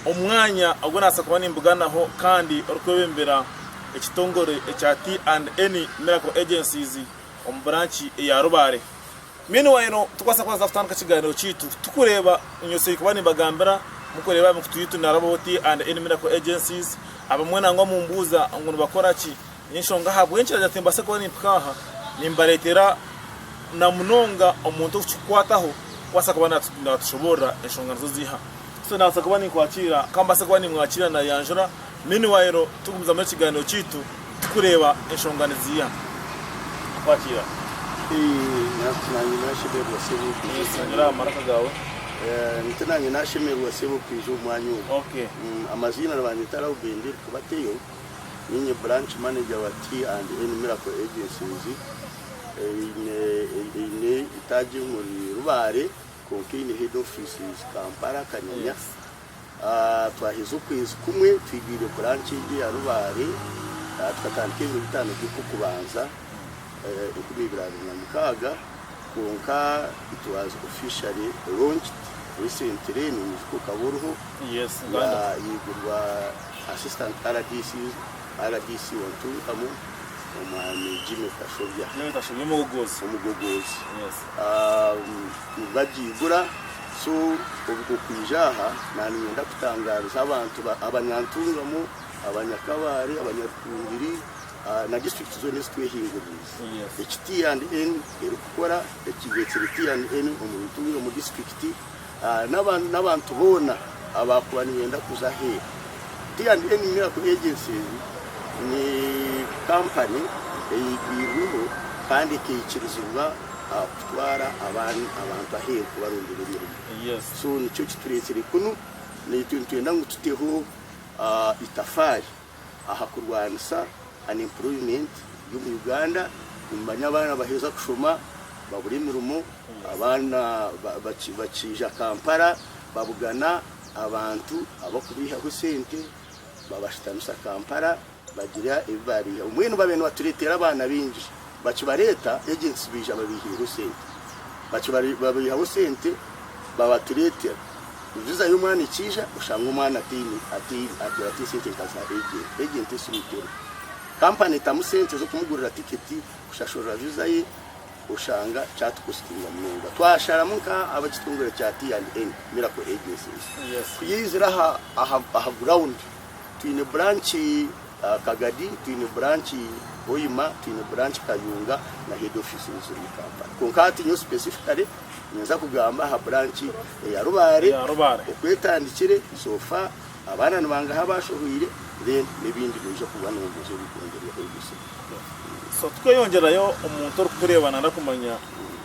Omwanya ogu nabaasa kuba nimbuganaho kandi orikwebembera ekitongore ekya T and N Miracle Agencies omu buranki eya Rubare. Meanwhile tukubaasa kubanza kutandika ekigaaniiro kyaitu tukureeba nyotsei kuba nimbagambira mukureeba aha mikutu yaitu nari ab'owa T and N Miracle Agencies abamwe nangwa mumbuuza ngu nibakoraki. N'enshonga ahabw'enki ndagira nti mbaase kuba nimpika aha, nimbareetera na munonga omuntu okukikukwataho kubaasa kuba naatushoboorora enshonga nizo ziiha. So naabaasa kuba ninkwatiira, ka mbaase kuba nimwatiira naayanjura. Meanwhile tugumizamu ekigaaniiro kyaitu tukureeba enshonga niziiha. Nakwatiira? Nti naanye naashemererwa Ssebo kwija omu Singura mwanya aha maraka ogu. gaawe. Nti naanye naashemererwa Ssebo kwija omu mwanya ogu. Okay. Amaziina nibanyeta Rauben, Rikubateyo. Niinye Branch Manager wa Tea and N Miracle Agencies eine eine eitaagi omuri Rubare kwonka eine Head Offices Kampala Kanyanya. Twaheza okwezi kumwe twigwire Branch egyo eya Rubare tukatandika ebiro bitaano by'okukubanza enkumi ibiri abiri na mukaaga kwonka it was officially launched recently, noinyijuka okaba oriho, yaigurwa. Assistant rdc rdc wa Ntungamu, Omwami Jimmy Kashobya. Jimmy Kashobya omugogoozi. Omugogoozi. Yes. Um, bagiigura so okwija aha naninyenda kutangaariza abantu ba abanyantungamu abanyakabaare abanyarukungiri uh, na district zoona ezitwehinguririize Yes. eki T&N erikukora ekireetsire T&N omu ntungamu district n'abantu boona abaakuba nibeenda kuza aheeru. T and N Miracle Agencies ni kampani eyaigwirweho kandi ekaikirizibwa kutwara abantu aheeru kubarondera emirimo. So nikyo kitureetsire kunu, naitwe nitwenda ngu tuteho eitafaari. aha kurwanisa unemployment omu Uganda nimumanya abaana baheza kushoma babura emirimo abaana bakiija Kampala babugana abantu abakubeihaho esente babashutamisa Kampala bagira ebi babeihaho mbwenu babire nibaturetera abaana baingi Bakibareeta egyo ensi baija babaihireho sente. Babaihaho sente babatureetera viza y'omwana ekiija oshanga omwana ataine atwire ate sente nka za agent. Agent esi mutego. Kampani etamu sente z'okumugurira tiketi, kushashurira viza ye oshanga kyatukositinga munonga. Twasharamu nka ab'ekitongore kya T&N, Miracle Agencies, kuyaizire aha aha ground. Twine branch Kagadi, twine branch Hoima, twine branch Kayunga na head office nizo ziri omu Kampala. Kwonka hati nyowe specifically ninza kugamba aha branch eya Rubare oku etandikire so far, abaana nibangaha abashohoire then n'ebindi noija kugwa nomuza obikwongyerweho ebise. So tukweyongyerayo omuntu orikukureeba nari kumanya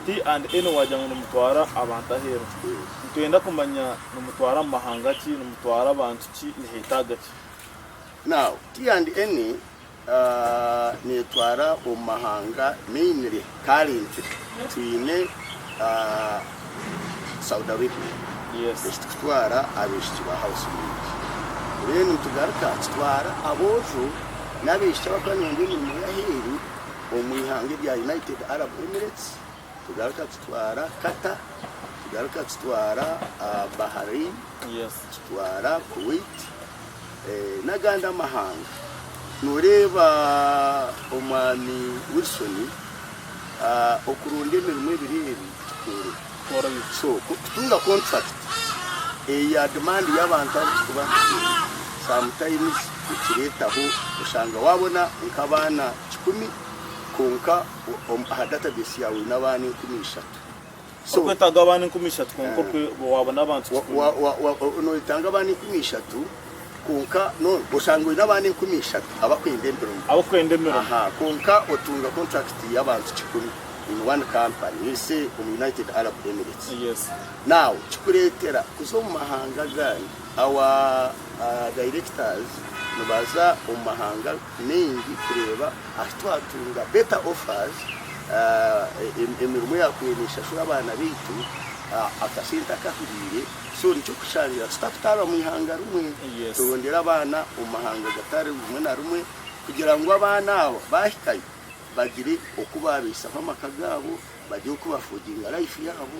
P and N wagira ngu nimutwara abantu aheeru. Nitwenda kumanya nimutwara mu mahanga ki, nimutwara abantu ki niheetaaga ki? Now, T and N neetwara omu mahanga mainly, currently twine Saudi Arabia eki turikutwara abaishiki ba house maid. Then nitugaruka tutwara aboojo n'abaishiki abarikuba nibaronda emirimo y'aheeru omu ihanga erya United Arab Emirates. Tugaruka tutwara Qatar, tugaruka tutwara Bahrain, tutwara Kuwait n'agandi amahanga. Nooreeba omwami Wilson okurunda emirimo ebiri ebi tikikoroho. So ku orikutunga kontrakiti eya dimaandi y'abantu abu orikuba oine, sometimes nikireetaho oshanga waabona nk'abaana kikumi kwonka Aha database yaawe oine abaana enkumi ishatu. Orikwetaaga abaana enkumi ishatu kwonka ope waabona abantu kikuru. Noyetaaga abaana enkumi ishatu kwonka oshanga oine abaana enkumi ishatu abakwenda emirimo. Abakwenda emirimo. Kwonka otunga kontrakiti y'abantu kikumi in one kampani let's say omu United Arab Emirates. Yes. Now kikureetera kuza omu mahanga agandi our directors nibaza omu mahanga. maingi kureeba ahu twatunga better offers emirimo eyakubaire neshashura abaana baitu akasente akahuriire so nikyo kushangira tutakutaarwa omu ihanga rimwe turondera abaana omu mahanga gatari rimwe na rimwe kugira ngu abaana abo bahikayo bagire oku babaisaho amaka gaabo bagire oku ba affordinga life yaabo.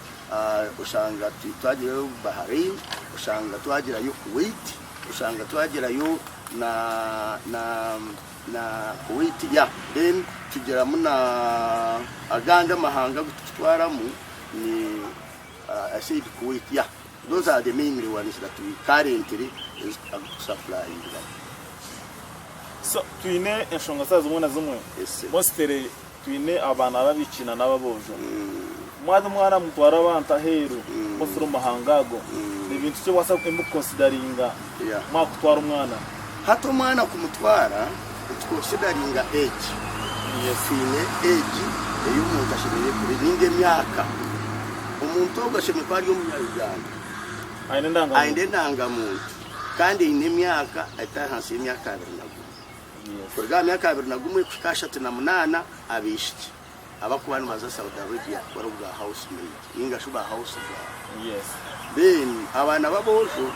oshanga twagirayo Bahrain, oshanga twagirayo Kuwait, oshanga twagirayo na na na Kuwait ya then tugiramu na agandi amahanga agu tukitwaramu ni uh, I said Kuwait ya those are the mainly ones that we currently agu tukusupplyingamu. So twine enshonga za zimwe na zimwe yes, sir. mostly Twine abaana b'abaishiki na n'ababoojo. Mwaza omwana mutwara abantu aheeru kukozesa omu mahanga ago, ni bintu ki owaza emwe kukonsidaringa mwakutwara omwana? Hati omwana kumutwara, nitukonsidaringa age. Twine age ei omuntu ashemereire kuba nainga emyaka. Omuntu ogwo ashemereire kuba ari omunya-Uganda, aine endangamuntu kandi aine emyaka etari ahansi y'emyaka abiri na gumwe. Kuruga aha myaka abiri na gumwe kuhika ashatu na munaana, abaishiki abarikuba nibaza Saudi Arabia bari obwa house maid ninga shi ba house girl. Then abaana b'aboojo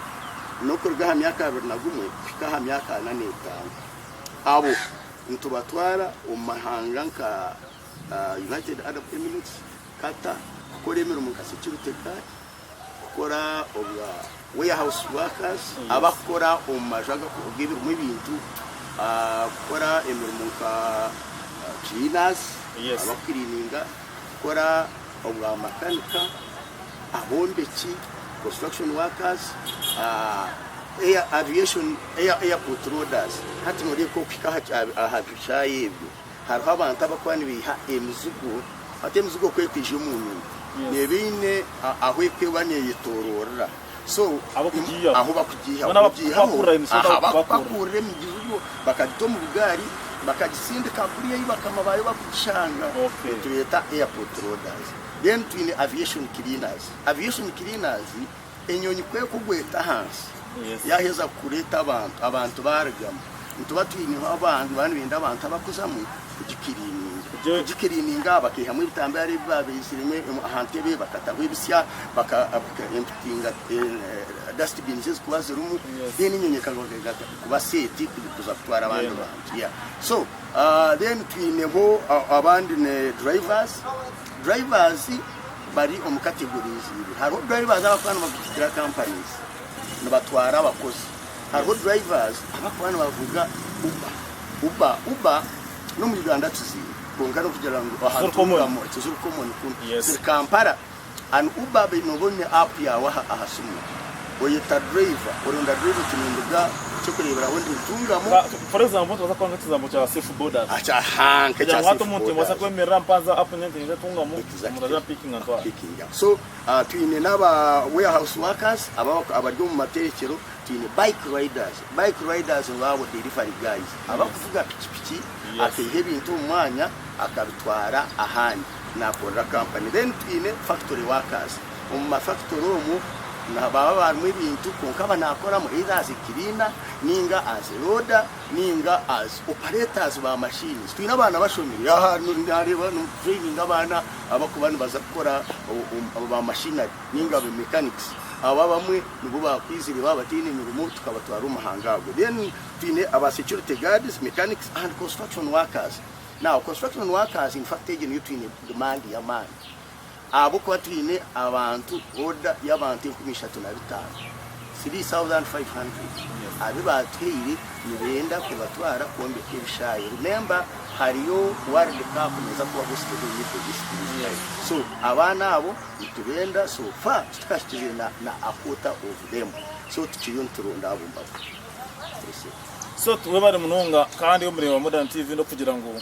n'okuruga aha myaka abiri na gumwe kuhika aha myaka ana n'etaano. Abo nitubatwara omu mahanga nka United Arab Emirates, Qatar kukora emirimo nka security guard. kukora obwa warehouse workers, abakukora omu maju ag'ebirimu ebintu, kukora emirimo nka cleaners, abakukiriininga, kukora obwa makanika, abombeki, construction workers, aviation, airport loaders, hati noreeba nk'okuhika aha bishaayi ebyo. Hariho abantu abakuba nibeiha emizigo hati emizigo ku ekwija omu nyonyi neeba eine ahu ekuba neyetoroorera so ahu bakugiihaho aha bakupakuurira emizigo bakagita omu bugaari bakagitsindika kuriya ei bakama baayo barikugishanga nitubeeta airport loaders then twine aviation cleaners, aviation cleaners, Enyonyi ku ekugwa eta ahansi yaaheza kureeta abantu, abantu baarigamu, nituba twineho abantu baba nibenda abantu abakuzamu kugikiriininga. Kugikiriininga aha bakaihamu ebitambaara ebi baabaiziremu aha ntebe, bakataho ebitsya, empitinga, dustbins ezi kuba zirimu, then enyonyi ekaruga kuba set kuza kutwara abandi bantu. So then twineho abandi drivers. Drivers bari omu categories ibiri. Hariho drivers abakuba nibavugira companies nibatwara abakozi. Hariho drivers abakuba nibavuga Uber. Uber Uber n'omu Uganda tuziine kwonka nokugira ngu ahantu Tiziri common. orugamu tiziri common kunu. Yes. Ziri Kampala and Uber be- nooba oine app yaawe aha aha simu. oyeta driver oronda driver ekinunduga kyokureberaho nti ntungamu For example nitubaasa kukoresa ekigambo kya safe borders aha kugira ngu hati omuntu omubaasa kwemerera mpanze app nyowe ngyende ntungamu omuntu aze ampickinge antware so twine naba warehouse workers abari omu mateekyero twine bike riders, bike riders nibo abo delivery guys abakuvuga piki piki akaiha ebintu omu mwanya akabitwara ahandi nakorera company then twine factory workers. Omu mafakitori omwo nibaba barimu ebintu kwonka aba naakoramu either as a cleaner nainga as a loader nainga as operators ba machines. Twine abaana bashomire aha naareeba nitutureyininga abaana abarikuba nibaza kukora ba machinery nainga ba mechanics. Abo abamwe nibo baakwizire baaba bataine mirimo tukabatwara omu mahanga ago. Then twine aba security guards, mechanics and construction workers. Now construction workers infact egyo niyo twine demand y'amaani. Ahabw'okuba twine abantu, oda y'abantu enkumi ishatu na bitaano, 3,500, abu baatuhaire nibenda kubatwara kwombeka ebishaayi. Remember hariyo World Cup neeza kuba hosted in Middle East in July. So abaana abo nitubenda so far titukahikiriire na na a quarter of them. So tukiriyo nituronda abo mbaga. That's it. So webale munonga kandi omureeba Modern TV n'okugira ngu.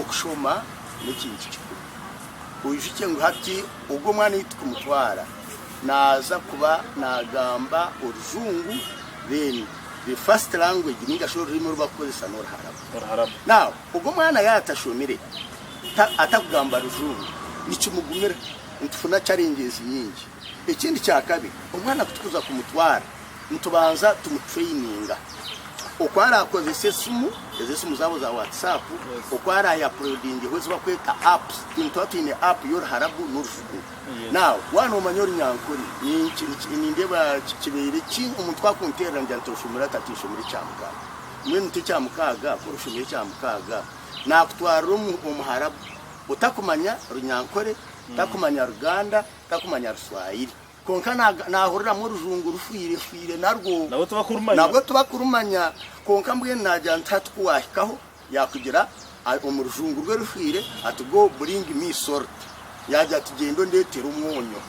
okushoma n'ekintu kikuru. Oijukye ngu hati ogu omwana ei turikumutwara naaza kuba naagamba orujungu then the first language ninga shi orurimi oru barikukoresa n'oruharabu. Oruharabu. Now ogu omwana yaatashomire ta- atarikugamba rujungu nikimugumira nitufuna challenges nyingi. Ekindi kya kabiri, omwana ku turikuza kumutwara nitubanza tumutureyininga oku araakozese esimu, ezo esimu zaabo za Whatsap, oku araayapurodingeho ezi barikweta apps. Itwe nituba twine app y'oruharabu n'orufugo. Now waaba noomanya ori nyankore, ninki, niki, nindeeba ki, kibeire ki omuntu ku akunteerera ngira nti oshomire ata ti nshomire ekyamukaaga. Mbwenu ti ekyamukaaga, ku orashomire ekyamukaaga, naakutwarira omu, omuharabu otakumanya Runyankore, otakumanya Ruganda, Takumanya Ruswayiri kwonka naahuriramu orujungu rufwirefwire narwo nabwo tibakurumanya kwonka mbwenu naagira nti hati ku waahikaho yaakugira omu rujungu rwe rufwire ati Go bring me salt. Yaagira ati Gyenda ondeetere omwonyo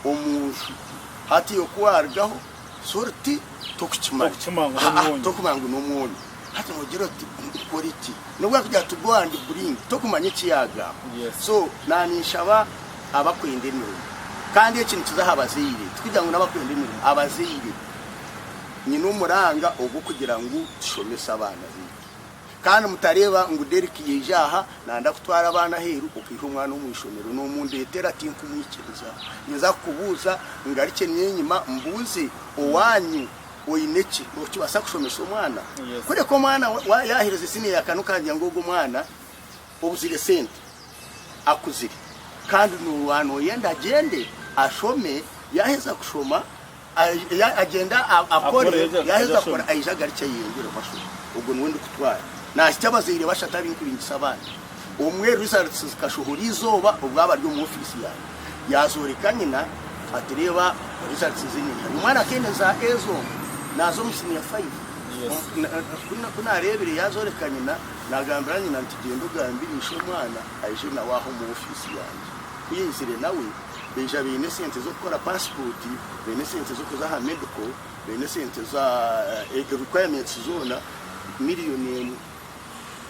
omu nju. Hati iwe ku waarugaho salt tokukimanya. Tokumanya ngu n'omwonyo. Hati nogira oti nkore ki? Nobu arikugira ati go and bring tokumanya eki yagamba. So naninshaba abakwenda emirimo kandi eki nikiza aha bazaire tikugira ngu nabakwenda emirimo abazaire nyine omuranga ogwokugira ngu tushomese abaana baitu kandi mutareba ngu Derrick yaija aha nayenda kutwara abaana aheru okaiha omwana omu ishomero nomundetera tinkumwikiriza ninza kukubuuza ngarukye nyenyima mbuuze owanyu Oine ki okibaasa kushomesa omwana? Kureka omwana yaaherize siniya ya kane okagira ngu ogwo omwana obuzire sente akuzire kandi nooba nooyenda agyende ashome yaaheza kushoma agyende akore yaaheza kukora aije agarukye ayeyongyeremu ashome. Ogwo niwe ndikutwara. Naashitya abazaire bashatu abarikuringisa abaana. Omwe, Results, zikashohora eizooba obwo abari omu ofiisi yangye. Yaazooreka nyina ati, Reeba results ezi enyingi. Omwana akaine za A zonka, naaza omu siniya faivu. Omu, ku naareebire yaazooreka nyina, naagambira nyina nti, Gyenda ogambire ishe omwana aije nawe aha omu ofiisi yangye. Ku yaizire nawe, baija baine esente z'okukora paasipooti, baine esente z'okuza aha medical, baine esente za, requirements zoona, million emwe.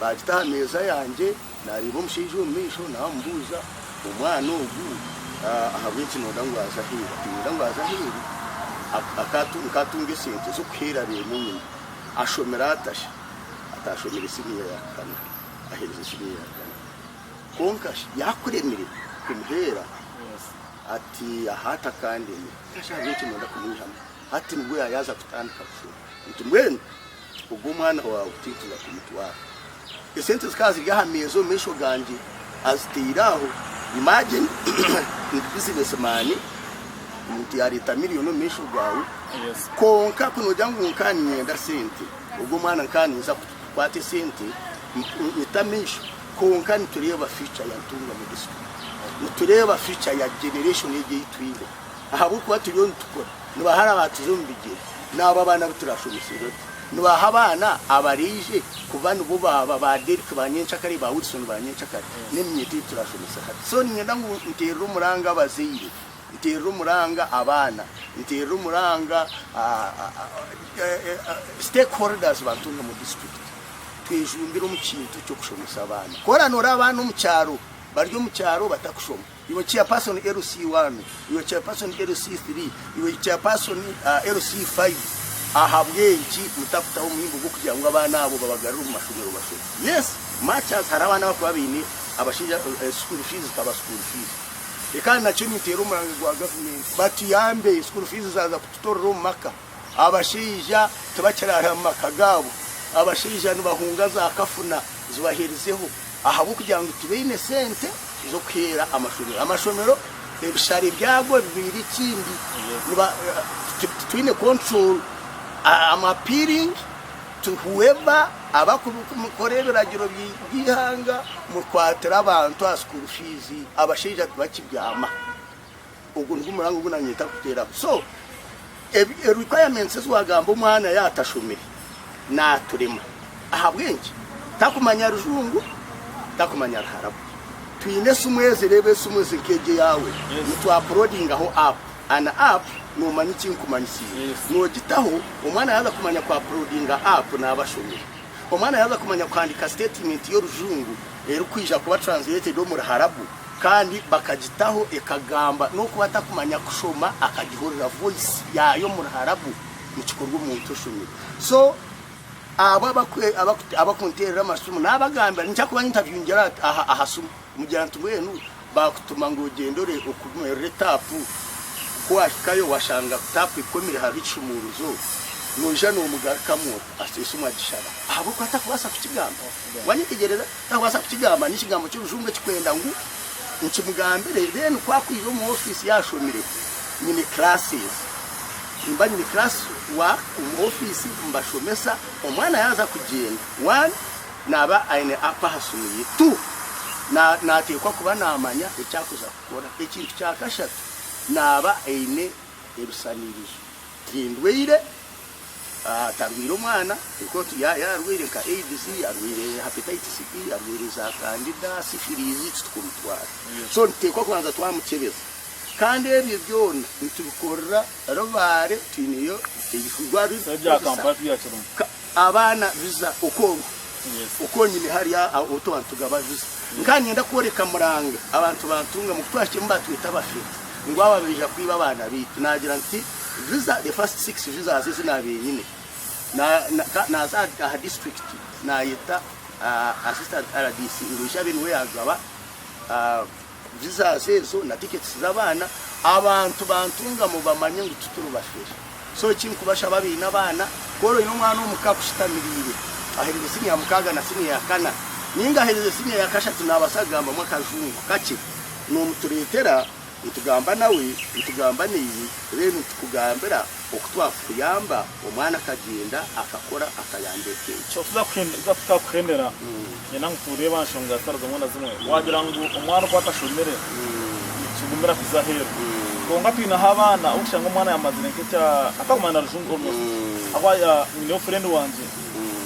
Baagita aha meeza yangye, naareeba omushaija omu maisho naamubuuza, Omwana ogu ahabw'enki nooda ngu aze aheeru? Ati, Niinyenda ngu aze aheeru nkaatunga esente z'okuheera beene enyima. Ashomire ata shi? Ati, Ashomire siniya ya kana, aherize siniya ya kana. Kwonka shi yaakuremire kumuheera? Ati, Aha atakandemire. Ati, Ahabw'enki nooda kumwihamu? Hati nibwo yaayaaza kutandika kushoma. Nti, Mbwenu. Ogwo omwana waawe tinkija kumutwara. Esente zikaba ziri aha meeza omu maisho gangye azitaire aho. Imagine ndi business man, omuntu yaareeta million omu maisho gaawe kwonka ku noogira ngu nkaba niinyenda sente. Ogwo omwana nkaba niinza kukwata esente nyite amaisho kwonka nitureeba future ya Ntungamo District, nitureeba future ya generation egi ei twine. Ahabw'okuba turiyo nitukura, nibahara baatuza omu bigyere, naabo abaana abu turaashomesibwe tu. Nibaaha abaana abaraije kuba nibo baaba ba Derrick ba nyencakare, ba Wilson ba nyencakare, n'eminyeto ei turaashomesa hati. So niinyenda ngu nteerere omuranga abazaire, nteerere omuranga abaana, nteerere omuranga stakeholders ba Ntungamo District, twejumbire omu kintu ky'okushomesa abaana. Ku oranoore abaana omu kyaro, bari omu kyaro batakushoma, Iwe chairperson LC one, iwe chairperson LC three, iwe chairperson LC five, ahabw'enki mutakutaho omuhimbo gw'okugira ngu abaana abo babagarure omu mashomero bashome? Yes, much as hariho abaana abarikuba baine abashaija, school fees zikaba school fees. Reka nakyo ninteera omurango gwa gavumenti, batuyambe school fees zaaza kututorera omu maka. Abashaija tibakiraara omu maka gaabo. Abashaija nibahunga za kafuna zibaheerizeho ahabw'okugira ngu tibaine sente z'okuheera amashomero. Amashomero ebishare byago bibaire ekindi. Titwine control am appealing to whoever abarikukora ebiragiro by'eihanga mukwatire abantu aha school fees. Abashaija tibakibyama. Ogwo nigwo murango ogu naanye ntarikuteeraho. So, ebi requirements ezi waagamba omwana yaatashomire naaturema. Ahabw'enki? Takumanya Rujungu, takumanya Ruharabu. Twine esimu ezi, reeba esimu ezi nk'egi eyaawe, nitwapuloodingaho app. An app noomanya eki nkumanyitsiire? Noogitaho, omwana yaaza kumanya kwapuloodinga app naaba ashomire. Omwana yaaza kumanya kuhandiika siteetimenti y'Orujungu erikwija kuba translated omu Ruharabu. kandi bakagitaho ekagamba n'okuba atakumanya kushoma akagihurira voice yaayo omu ruharabu nikikorwa omuntu oshomire so abo abakunteerera amasimu naabagambira ningira kuba nintaviungira aha simu mugira nti mbwenu baakutuma ngu ogyende ore okumerere taapu ku wahikayo washanga taapu ekomire hariho ekishumuuruzo noija noomugarukamu ori esimu agishara ahabw'okuba atakubaasa kukigamba waanyetegyereza. Naabaasa kukigamba, n'ekigambo ky'orujungu ekikwenda ngu nkimugambire, then ku akwija omu office yaashomire, nyine classes, nimba nyine class wa omu office mbashomesa, omwana yaaza kugyenda, one naaba aine app aha simu ye, two na naateekwa kuba naamanya eki arikuza kukora, ekintu kya kashatu naaba aine ebisaniirizo. Tindwaire, atarwaire omwana kwonka otu yaayeeho arwaire nka aids, arwaire hepatitis B, arwaire za candida, syphilis titukumutwara. So nituteekwa kubanza twamukyebeza. Kandi ebyo byona nitubikorera Rubare, twineyo eirwariro erikutukoresa. Abaana biza okonka okonyine hari aho twantugaba biza nkaba ninyenda kworeka muranga abantu bantunga mu kutwahikemu batweta abafeti ngu aba beija kwiba abaana baitu nagira nti viza the first six visas ezi nabenyine naza aha district nayeta assistant rdc ngu ishabe niwe yagaba Jesus ezo na tickets z'abaana abantu bantungamu bamanye ngu tituri bashwere so ekinkubashaba abaine abaana ku ori oine omwana omu ka akushitamiriire ahereze senior ya mukaaga na senior ya kana ninga ahereze senior ya kashatu naabaasa kugambamu akajungu kakye noomutureetera nitugamba nawe nitugamba naiwe then nitukugambira Oku twakuyamba, omwana akagyenda akakora akayamba eka egi. Oku twakuhemera, nyena ngu tureeba nshonga zitari zimwe na zimwe. Wagira ngu omwana oku atashomire nikigumira kuza aheeru. Kwonka twineho abaana ou kushanga omwana yamazire nk'ekya Ataguma na Rujungu almost ahabw'okuba ya nyineho friend wangye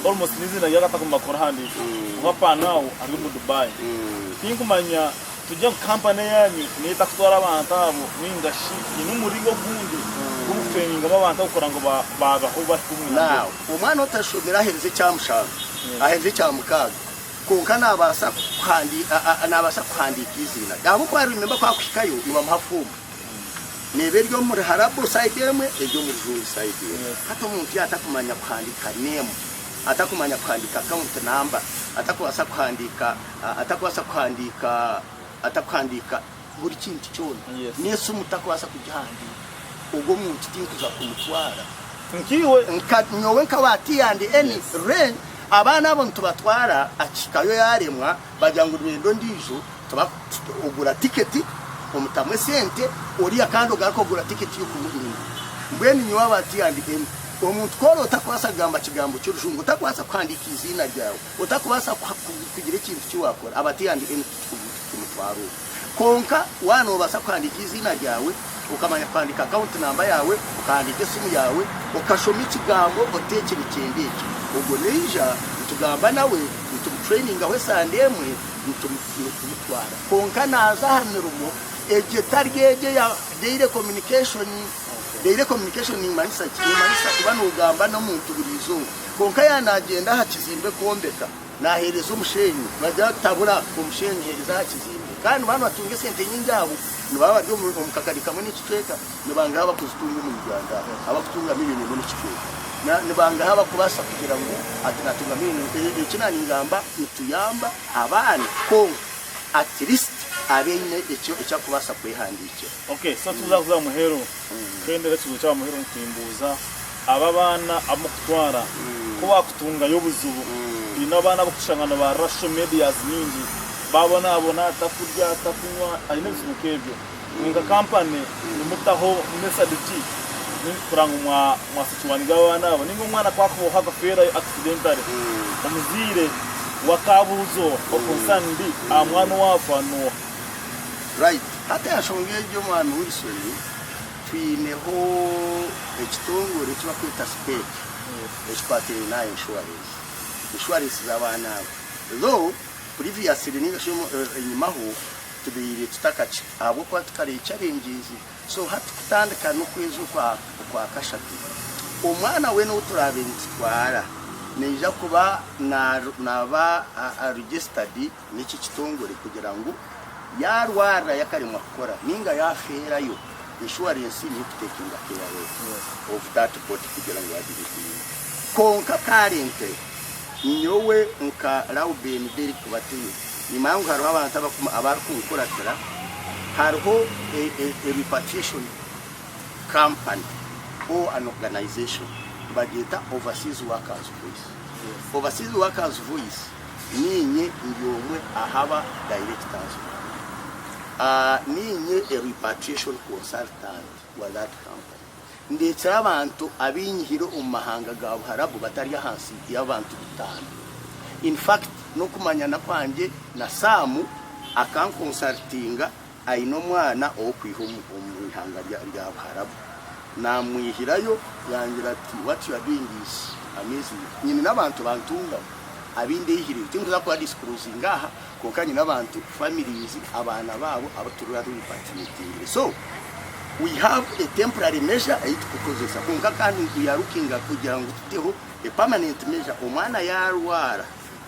almost n'eiziina rye akataguma kurihandiika ahabw'okuba paanaawu ari omu Dubai. Tinkumanya Turi ngu kampani yaanyu neyo etakutwara abantu abo nainga shi eine omuringo ogundi gw'obukutrainingamu abantu abo kurora ngu baabaho bari kumwe na Mbwenu? Naawe omwana otashomire aheerize ekya mushanju, aheerize ekya mukaaga, kwonka naabaasa kuhandi a, a, naabaasa kuhandiika eiziina rye. Ahabw'okuba remember ku arikuhikayo nibamuha foomu. Neeba eri omu riharabo side emwe, eri omu rijunju side emwe. Yes. Hati omuntu yaatakumanya kuhandiika name, atakumanya kuhandiika account number, atakubaasa kuhandiika Atakubaasa kuhandiika, atakuhandiika buri kintu kyona, n'esimu takubaasa kugihandiika, ogwo muntu tinkuza kumutwara. Nkaiwe, nka nyowe nka wa T&N Ren, abaana abo nitubatwara aha kihikayo yaaremwa bagira ngu nibenda ondiijo, tuba ogura tiketi omutamu esente oriya kandi ogaruke kugura tiketi y'okumuhindura. Mbwenu nyowe aba T&N, omuntu ku oraba otakubaasa kugamba kigambo ky'orujungu, otakubaasa kuhandiika eiziina ryawe, Otakubaasa kugira ekintu ki waakora aba tiyandi enu tikimutwara omu. Kwonka waaba noobaasa kuhandiika eiziina ryaawe, okamanya kuhandiika akawunti namba yaawe, okahandiika esimu yaawe, okashoma ekigambo ota eki nikyenda eki, ogwo naija nitugamba nawe, nitumutureyiningaho esande emwe, nitumutwara. Kwonka naaza aha mirimo egyo etari egyo eya daily communication. Daily communication niimanyisa ki? Niimanyisa kuba noogamba n'omuntu buri izooba. Kwonka yaaba naagyenda aha kizimbe kwombeka, naaheereza omusheenyi, nibagira bati, Tabura omusheenyi, heereza aha kizimbe. Kandi nibaaba nibatunga esente nyingi aho, nibaaba bari omu, omu kakari kamwe n'ekicweka, nibangaha abakuzitunga omu Uganda aha, abakutunga milioni emwe n'ekicweka? Na, nibangaha abakubaasa kugira ngu, ati, Naatunga milioni emwe. E, eki naaningamba, nituyamba abaana, kwonka at least abe aine eki, eki akubaasa kwehandiikira. Okay, so tibirakuza muheru. Fendera ekibuzo eki abamuheire omu kuhimbuuza abo abaana abu murikutwara. Ku waakutungayo obuzibu oine abaana abu orikushanga nibaarira social medias nyingi, baabonaabona atakurya, atakunywa, aine ebizibu nk'ebyo. Imwe nka kampani nimutaho method ki kureba ngu mwasecuringa abaana abo? Nainga omwana ku akubaho akafeerayo accidentally, omuzaire we akaabuuza owo, or concerned, aha mwana owaafa, n'oha? Right. Hati aha nshonga egyo Mwami Wilson, twineho ekitongore eki barikweta CPEC ekikwatiraine n'aha insurance. Insurance z'abaana abo. Though previously ninga shi enyima ho tubaire tutakakye ahabw'okuba tukareba challenges. So hati kutandika n'okwezi okwa okwa kashatu, omwana weena ou turaabe nitutwara naija kuba na naba registered. Niki kitongore kugira ngu yaarwarira yakaremwa kukora ninga yaafeerayo, inshuwarensi niyo ekutekinga KRS of that body kugira ngu waagire eki oine. Kwonka karenkye nyowe nka Lauben Derrick Batuhe nimanya ngu hariho abantu abarikunkuratira, hariho a repatriation company or an organization nibagyeta Overseas Workers Voice. Overseas Workers Voice Niinye ndi omwe ahaba Directors baayo. Niinye Repatriation Consultant wa that company. Ndeetsire abantu abainyihire omu mahanga ga Buharabu batari ahansi y'abantu bitaano. In fact, n'okumanyana kwangye na Sam akankonsultinga Aine omwana ow'okwiha omu ihanga rya Buharabu. Naamwihirayo yaangira ati, What you are doing is amazing. Nyine n'abantu bantungamu abu ndeehireyo. Tinkuza kuba disclosinga aha, kwonka nyine abantu, families, abaana baabo abu turiba turepatriatingire. So, we have a temporary measure ei turikukozesa, kwonka kandi we are looking kugira ngu tuteho a permanent measure omwana yaarwara.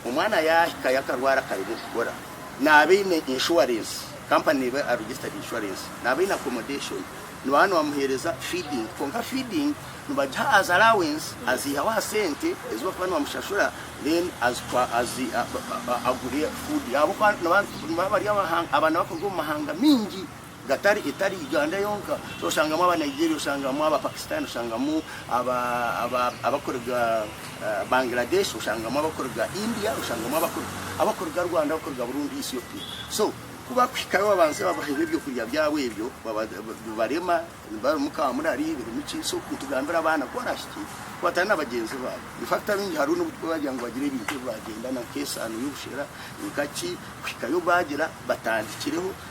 Omwana yaahika yakarwara akaremwa okukora, naaba aine inshuwarensi, kampani neeba aregisitadi inshuwarensi, naaba aine akomodeshoni, nooba nibamuheereza fiidingi, kwonka fiidingi nibagiha azi alawensi, aziihaho aha sente ezi barikuba nibamushashura, then agure fuudi, ahabw'okuba nibaaba bari abaana abarikuruga omu mahanga maingi. Gatari etari Uganda yonka, oshangamu aba Nigeria, oshangamu aba Pakistan, oshangamu aba aba abakuruga Bangladesh, oshangamu abakuruga India, oshangamu abakuruga abakuruga Rwanda, abakuruga Burundi, Ethiopia. So ku bakuhikayo babanze babaheho ebyokurya byabo ebyo, baba bibarema, barimu ka murari, birimu ki, so nitugambira abaana ku barahikye kubatana na bagyenzi baabo. In fact abaingi hariho n'obu turikubagira ngu bagire ebintu ebi baagyendana nk'esaano y'obushera, nkaki, kuhikayo baagira batandikireho.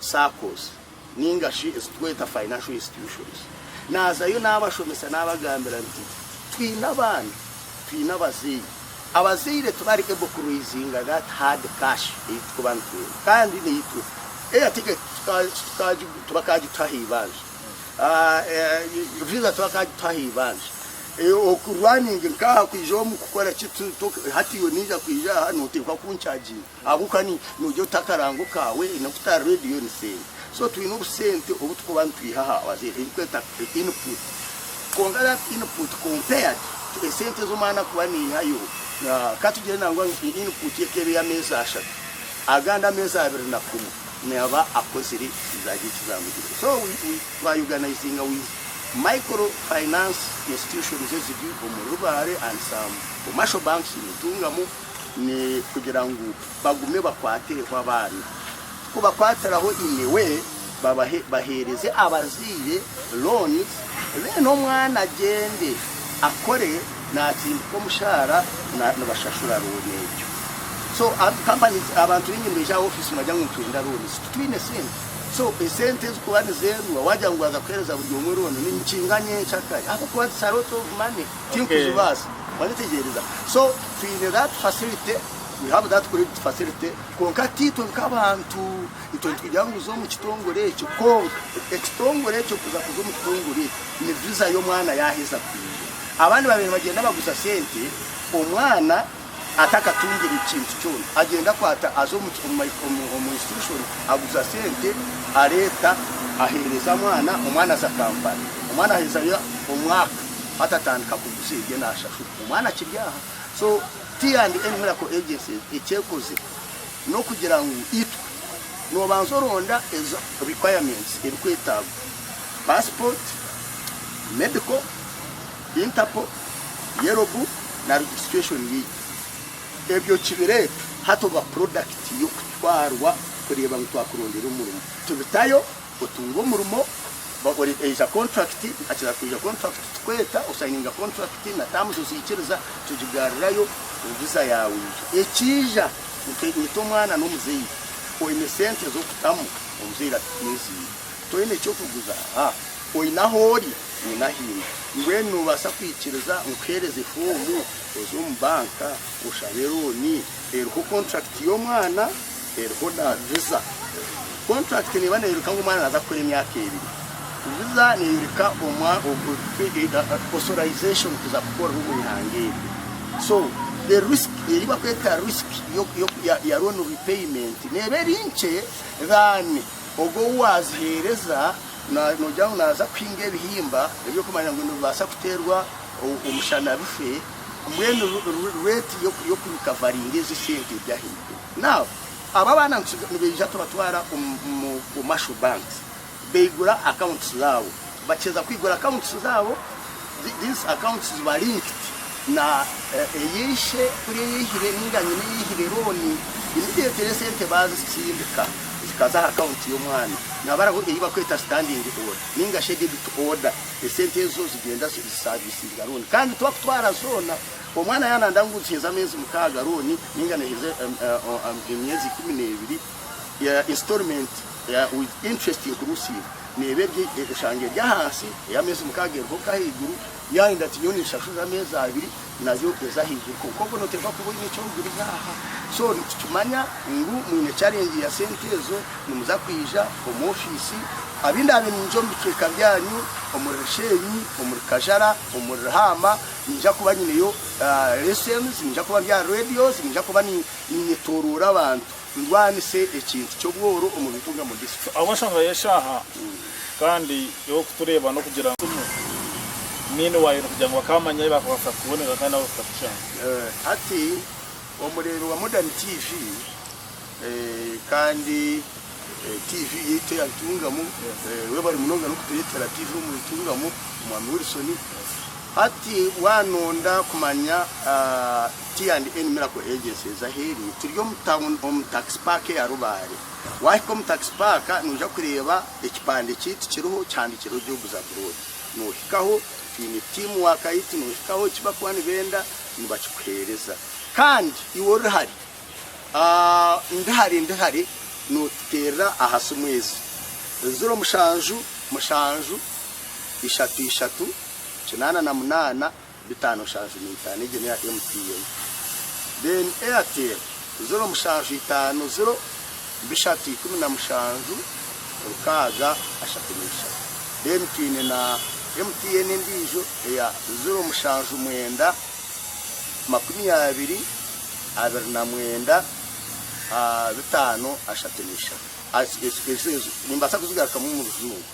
saccos ninga shi ezi tweta financial institutions nazayo nabashomesa nabagambira nti twine abaana twine abazeyi abazeire tibari able ku raisinga that hard cash eyi tukuba nitwenda kandi naitwe air ticket tibakagituha aheibanja visa tibakagituha aheibanja oku running nkaha kwijaho mukukora ki hati iwe ninja kwija aha noteekwa kuncaginga. Ahabw'okuba noogira oti akarango kaawe n'oku otari reediyo ni sente. So twine obusente obu turikuba nitwiha aha Wazee ebirikweta input. Kwonka that input compared to esente ezi omwana arikuba naihayo. Ka tugire nangwa ngu input ye k'ebe ey'ameezi ashatu, agandi ameezi abiri na kumwe naaba akozire zaagye eki zaamugirire. So we twa organizinga with micro finance institutions eziri omuri Rubare and some commercial banks, Nitungamu, ni kugira ngu bagume bakwatireho abaana. Ku bakwatiraho inyewe, babahe bahereze abazaire loans then omwana agyende akore natsindika omushaara na nibashashura loan egyo. So hati companies abantu baingi nibija aha office nibagira ngu nitwenda loans titwine sente. So esente ezi kuba nizendwa wagira ngu waza kuhereza buri omwe loan ni nikinga nyenkyakare ahabw'okuba it's a lot of money. Tirukuzibaasa. Waayetegyereza? So, twine that facility, we have that credit facility, kwonka tiitwe nk'abantu, itwe nitugira ngu za omu kitongore ekyo. Kwonka, ekitongore ekyo kuza kuza omu kitongore ekyo, ni viza y'omwana yaaheza kwija. Abandi babaire nibagyenda baguza sente, omwana. atakatungire kintu kyona agyenda akwata aza omu institution aguza sente areeta ahereza mwana omwana aza Kampala omwana ahezayo omwaka hati atandika kuguza ebye nashashura omwana akiri aha so T and N miracle agencies ekyekoze nokugira ngu itwe nobanza oronda ezo requirements ebikwetagwa passport medical Interpol, Yellow Book na Registration League. Ebyo kibireeta hati oba product y'okutwarwa kureeba ngu twakurondera omurimo. Tubitayo, otunga omurimo, oija contract, nkakira kwija contract tukweeta, osayininga contract na terms oziikiriza, tugigaarirayo, visa yaawe eija. Ekiija, nyita omwana n'omuzaire, oine sente z'okutamu, omuzaire ati tiinziine. Toine ky'okuguza? Haa, oine ahoori? nyine ahainda. Mbwenu noobaasa kwikiriza nkuheereze foomu oze omu banka oshabe rooni? Eriho kontrakiti y'omwana, eriho na viza. Kontrakiti neeba neeyoreka ngu omwana naaza kukora emyaka ebiri. Viza neeyoreka osorayizeeshoni kuza kukorera omu ihanga eryo. So the risk, ei barikweta risk ya loan repayment neeba eri nkye than ogwo ou waaziheereza. Noogira ngu naaza kuhinga ebihimba eby'okumanya ngu nibibaasa kuteerwa omushana bife, mbwenu reeti y'okurikavaringa ezi sente eri ahaiguru. Now, abo abaana nibaija tubatwara omu omu commercial banks, baigura accounts zaabo. Bakiheeza kwigura accounts zaabo, These accounts ziba linked na eya ishe kuri eyihire ninga nyina eyihire loan immediately esente bazitsindika zikaza aha account yomwana nihaba hariho eyi bakweta standing order ninga shi debit order esente ezo zigyenda zisavisinga loan kandi twakutwara zona omwana yananda ngu niheza amezi mukaga loan ninga neheza emyezi ikumi nebiri ya instalment ya with interest inclusive neeba eri eshanga eri ahansi, ey'ameezi mukaaga eriho okwo ahaiguru, yaayenda ati nyowe ninshasurira ameezi abiri nayo eze ahaiguru kwonka obwo nooteekwa kuba oine eki orikuguriza aha. So nitukimanya ngu mwine challenge ya sente ezo nimuza kwija omu ofiisi abu ndaabe niinyija omu bicweka byanyu omuri Risheenyi, omuri Kajara, omuri Ruhaama niinyija kuba nyineyo lessons, niinyija kuba ndi aha radios, niinyija kuba niinyetooroora abantu. ndwanise ekintu ky'obworo omu bintu nka mudisco. Ahabwa enshonga y'eshaaha kandi ey'okutureeba n'okugira ngu timu niini waayona kugira ngu bakaamanya ei baakabaasa kukubonera kandi nabo bakakushanga. Hati omureebi wa Modern TV kandi TV yaitu eya Ntungamu, webare munonga n'okutureetera TV omuri Ntungamu, Omwami Wilson. Hati waanonda kumanya. T&N Miracle Agency eza ahu eri, turi omu tawuni omu Tax Park eya Rubare. Waahika omu Tax Park noija kureeba ekipande kyaitu kiriho kihandiikirweho Jobs Abroad. Noohikaho twine tiimu waaka yaitu noohikaho eki barikuba nibenda nibakikuheereza. Kandi iwe ori hare, ndi hare ndi hare nootuteerera aha simu ezi, ziro mushanju mushanju ishatu ishatu kinaana na munaana, bitaano nshanju n'eitaano egyo neya MTN then Airtel ziro mushanju itaano ziro bishatu ikumi na mushanju rukaaga ashatu n'eishatu then twine na MTN endiijo eya ziro mushanju mwenda makumi abiri abiri na mwenda bitaano ashatu n'eishatu ezo ezo nimbaasa kuzigarukamu omu rujungu.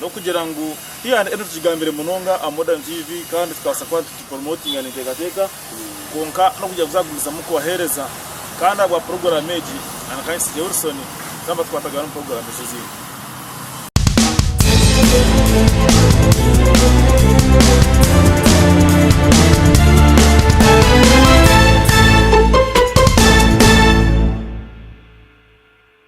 N'okugira ngu twihane ebi tukigambire munonga aha Modern TV kandi tukabaasa kuba nitupromotinga n'enteekateeka, kwonka n'okugira ngu zaagumizamu kubaheereza. Kandi ahabwa puroguraamu egi, nanye nka Insigye Wilson, twaba twatagayo na puroguraamu ezi ezindi.